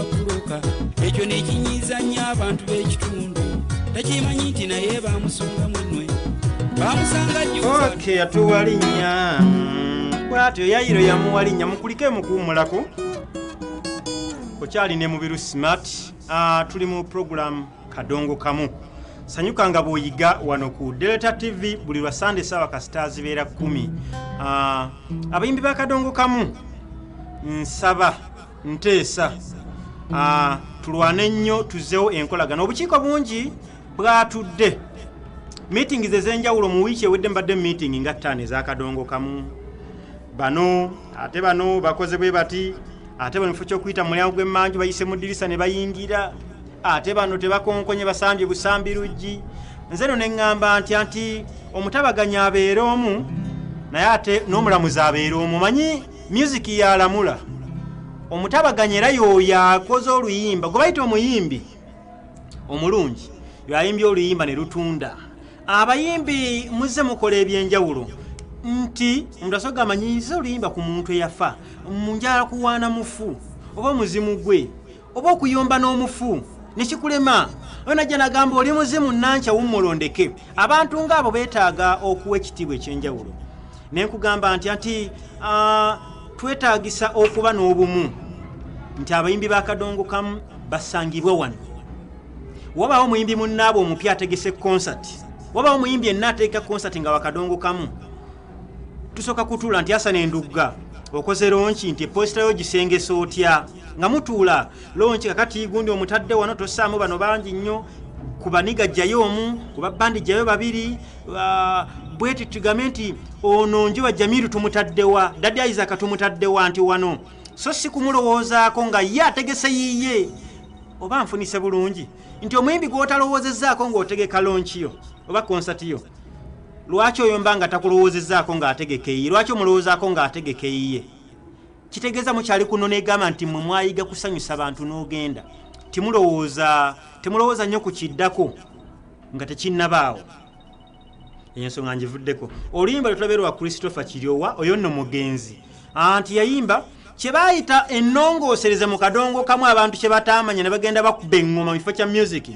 kuloka ekyo nekinyiiza nnyo abantu b'ekitundu takimanyi nti naye bamusonga munwe bamusanga jyoke yatuwa linnya bwatyo yayiro yamuwa linnya mukulike mukuwumulako okyali ne mubiru smart ah, tuli mu puroguramu kadongo kamu sanyuka nga bw'oyiga wano ku delta tv buli lwa sande saawa kasita zibeera kumi ah, abayimbi ba kadongo kamu nsaba nteesa ah, tulwane nnyo tuzzewo enkolagana obukiiko bungi bwatudde meetings ez'enjawulo mu wiiki ewedde mbadde meeting nga ttaano ezakadongo kamu bano ate bano bakoze bwe bati ate bano kifo kyokuyita mu mulyango gw'emmanju bayise mu ddirisa ne bayingira ate bano tebakonkonye basambye busambi luggi nze no ne ŋŋamba ntya nti omutabaganyi abeere omu naye ate n'omulamuzi abeere omu manyi myuziki yalamula omutabaganyi era yoyo akoze oluyimba gwe bayita omuyimbi omulungi yoayimbye oluyimba ne lutunda abayimbi muzze mukola ebyenjawulo nti omuntu asoga amanyiiza oluyimba ku muntu eyafa munjala kuwaana mufu oba omuzimu gwe oba okuyomba n'omufu nekikulema oyo najja nagamba oli muzimu nankya wumulondeke abantu ngaabo betaaga okuwa ekitiibwa ekyenjawulo nenkugamba nti ati twetagisa okuba n'obumu nti abayimbi bakadongo kamu basangibwe wano wabawo muyimbi munnaabwe omupya ategese konsati wabawo muyimbi enna ateeka konsati nga wakadongo kamu tusooka kutuula nti asana endugga okoze lonki nti eposita yo gisengesa otya nga mutuula lonki kakati gundi omutadde wano tosaamu bano bangi nnyo ku baniga jjayo omu ku babbandi jjayo babiri ah, bweti tugambe nti ono njuba jamiru tumutaddewa dadi isaka tumutaddewa nti wano so si kumulowoozaako nga ye ategese yiye oba nfunise bulungi nti omuyimbi gw'otalowoozezaako ng'otegeka lonkiyo oba konsatiyo lwaki oyomba nga takulowoozezaako ng'ategeka eyiye lwaki omulowoozaako ng'ategeka eyiye kitegeeza mukyali kuno negamba nti mwe mwayiga kusanyusa bantu n'ogenda timulowooza temulowooza nnyo ku kiddako nga tekinnabaawo ensonga njivuddeko oluyimba lwetulabe lwa christopher kiryowa oyo nno mugenzi anti yayimba kyebayita enongoosereza mu kadongo kamu abantu kyebataamanya ne bagenda bakuba eŋŋoma mu kifo kya musiki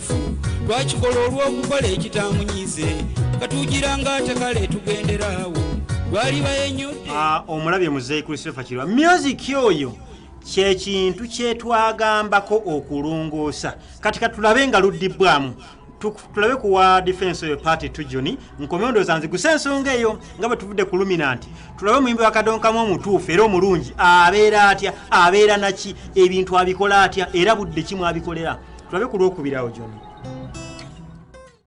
twakikola olw'okukola ekitamunyize katugira nga ate kale tugenderaawo lwalibayenyudde ah, omulabye muzeeyi christopher kirwa myuziki oyo kyekintu kyetwagambako okulongoosa kati katulabe nga luddibbwamu tulabe kuwa defense oyo party tujuni nkomyondooza nzigusa ensonga eyo nga bwe tuvudde ku luminanti tulabe omuyimbi wa kadonkamu omutuufu era omulungi abeera atya abeera naki ebintu abikola atya era budde ki mwabikolera tulabe ku lwokubirawo gyona